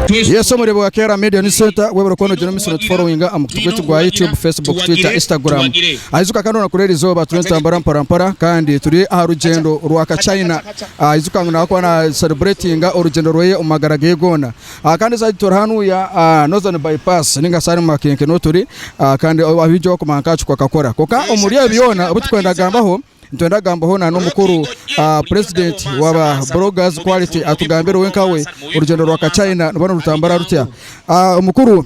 Yesu omurebe wa Kera Media News Center webura kuba nogira omusi notufollowinga aha mukutu gwaitu gwa YouTube, Facebook, Twitter, Instagram. Aijuka kandi orunakura eri izooba turi nitutambura mpora mpora kandi turi aha rugyendo rwa ka China. Aijuka ngu nawe akuba na celebratinga orugyendo rweye omu magara geye goona. Kandi side tori hanuya Northern bypass ninga shi harimu makenke nuhu turi kandi abahikyo bakumanya nka Ahacuku akakora. Kwonka omuri ebyo byona ebi tukwenda kugambaho, nitwenda kugambaho na n'omukuru President waba Bloggers Quality atugambire we nkawe orugyendo rwa ka China niruba nirutambura rutya. Omukuru.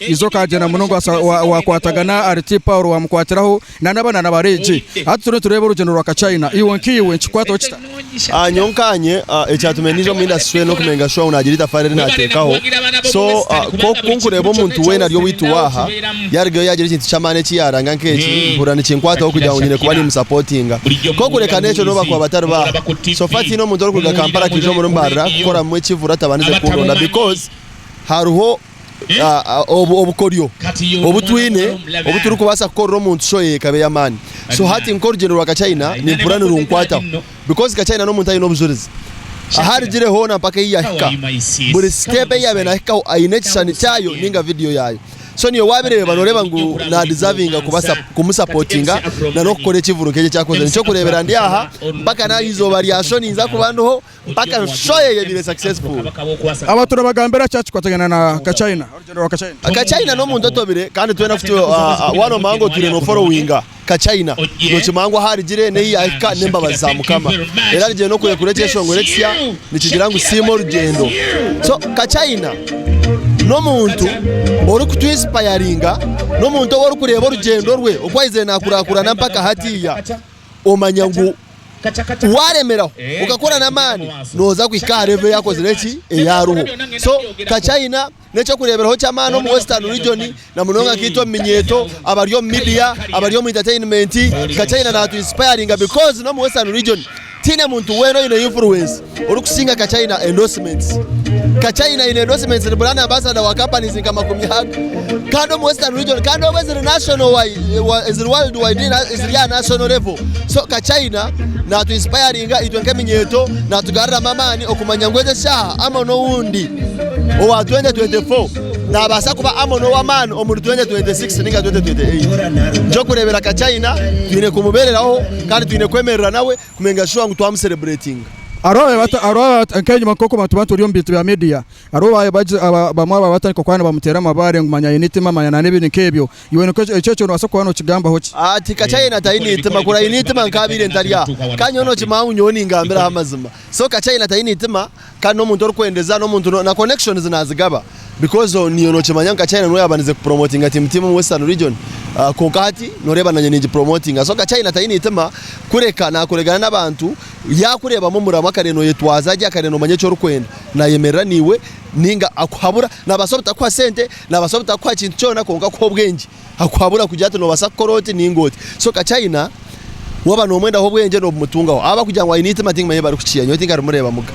Yesu akaagyenda muno ngu owaakwatagana ahari ti Paulo waamukwatiraho, na n'aba na bari egi. Hati turiyo nitureeba orugyendo rwa kachina. Iwe nkaiwe nikikwataho kita? Nyowe nkaanye, ekyatumire naija omu indasituri enu n'okumanya ngu Gashwaamu naagira eitafaari eri naateekaho. So, ku nkureeba omuntu weena ari owaitu waaha yaarugayo yaagira ekintu ky'amaani eki yaaranga nk'eki, mpurira nikinkwataho kugira ngu nyine kuba niimusapotinga. Kwonka kureeka n'ekyo n'obu bakuba batari baaha. So far tihaine omuntu orikuruga Kampala akaija omuri Mbarara kukoramu ekivuro atabandize kundonda because hariho. ah, ah, obu- obukoryo obu twine obu turikubaasa kukorera omuntu shoye ekaba ey'amaani so hati nk'orugyendo rwa kachina nimpurira nirunkwataho because kachina n'omuntu aine obujurizi ahu arugire hoona mpaka ei yahika buri siteepu ei yaabaire naahikaho aine ekishushani kyayo ninga vidiyo yaayo so niiwe waabireeba nooreeba ngu naadizavinga kubasa kumusapotinga na n'okukora ekivuru nk'eki ekyakozire nikyo kureebera ndi aha mpaka naaha izooba rya sho ninza kuba ndiho mpaka enshohi eyebiire successful. Aba turabagambira kya kikwatagana na ka China, orugyendo rwa ka China. Ka China n'omuntu otobire kandi twena kutu wanomanya ngu otwire no followinga ka China nokimanya ngu ahu arigire n'ehi yahika n'embabazi za Mukama era arigire n'okurekura ekyeshongoro ekisya nikigira ngu siima orugyendo. So ka China n'omuntu ori kutu inspiringa n'omuntu ou orikureeba orugyendo rwe oku ayizire nakurakurana mpaka hatiiya. Omanya ngu waaremeraho okakora n'amaani nooza kuhika aha revo eyaakozire ki? Eyaariho. So ka China n'eky'okureeberaho ky'amaani omu Western Region na munonga nk'itwe omu minyeeto, abari omu media, abari omu entertainment. Ka China naatu inspiringa because n'omu Western Region tihaine muntu weena oine influence. orikusinga Kachina endorsements. Kachina aine endorsements ni brand ambassador wa companies nka makumi aga kandi omu western region kandi obu eziri national wide wa- eziri world wide na- eziri aha national level so Kachina natu inspiringa itwe nk'eminyeeto natugaruramu amaani okumanya ngu egi eshaaha Amon owundi owa 2024 nabaasa kuba Amon ow'amaani omuri 2026 ninga 2028 ekyokureebera Kachina twine kumubeereraho kandi twine kwemerera nawe kumenga shuwa ngu twamu celebratinga. Hariho abaabaire nk'enyima nk'oku batuba nituri omu bintu bya media. Hariho abamwe abaabaire batandika kuba nibamuteera amabaare ngu manya aine eitima manya nana ebindi nk'ebyo. Iwe nikwo ekyo ekyo noobaasa kuba nookigambaho ki? Tikakya yena taine eitima, kuri aine eitima nkaabaire ntari aha. Kandi nyowe nookimanya ngu nyowe ningambiraho amazima. So kakya yena taine eitima Kandi nomuntu orikwendeza nomuntu na connections nazigaba because niwe nokimanya nka China niwe yabanize ku promotinga team team omu western region kwonka hati noreeba nanye ningi promotinga so nka China taine itima kureka nakuregana nabantu yakureebamu omuramu akareeba noyetwaza gye akareeba nomanya eki orikwenda nayemerera naiwe ninga akuhabura nabasa obutakuha sente nabasa obutakuha kintu kyona kwonka akuha obwengye. akuhabura kugira ati nobasa kukora oti ninga oti so kakyayina waba nomwendaho obwengye nobumutungaho aba kugira ngu ayine itima tingimanya ebibarikukiya nyowe tinkarimurebamuga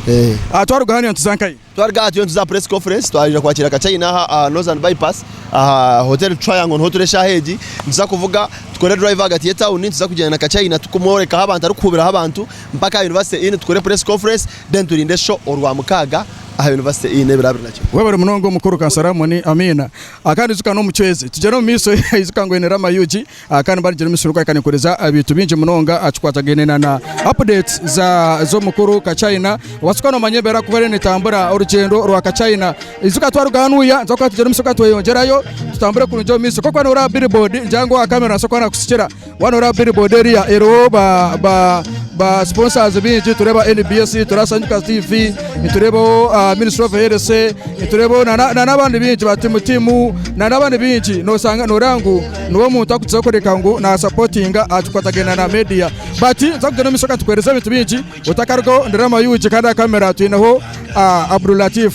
eh. Aha twaruga hanu nituza nkayi? Twaruga aha turiyo nituza aha press conference twayija kwakira kakyayina aha aha Northern Bypass aha hotel Triangle niho turi eshaha egi nituza kuvuga tukore drive ahagati ye town nituza kugyenda na kakyayina tukumworekaho abantu arikuhubiraho abantu mpaka aha University Inn tukore press conference then turinde show orwa mukaaga aha University Inn ebiro abiri nakimwe. Webare munonga omukuru kansara Moni Amina Akandi ijuka n'omucwezi tugyere omumaisho ijuka ngu oine Rama Ug kandi mba nigira omusiru kwahika ninkuhuriza ebintu bingi munonga kikwatagaine na na updates za z'omukuru ka China watsukwa nomanya embeera kuba eriyo netambura orugyendo rwa ka China ijuka twaruga hanu uya nituba kuba tugyere omumaisho twayeyongyerayo tutambure kurungi omumaisho kokuba noreeba billboard ngira ngu owa camera nasobola kuba nakusikira. Waaba nooreeba billboard eriya eriho ba- ba- ba sponsors bingi tureeba nbs tureeba sanyika tv nitureebaho ah, ministry of health nitureebaho na- na- na- n'abandi bingi ba timu timu na- n'abandi bingi noosanga nooreeba ngu niwe omuntu arikutuza kureka ngu naasapotinga aha kikwatagana na media but nza kugyenda omu maisho katukuheereza ebintu bingi otakarugaho ndi Rama Yugi kandi aha kamera twineho ah, Abdul Latif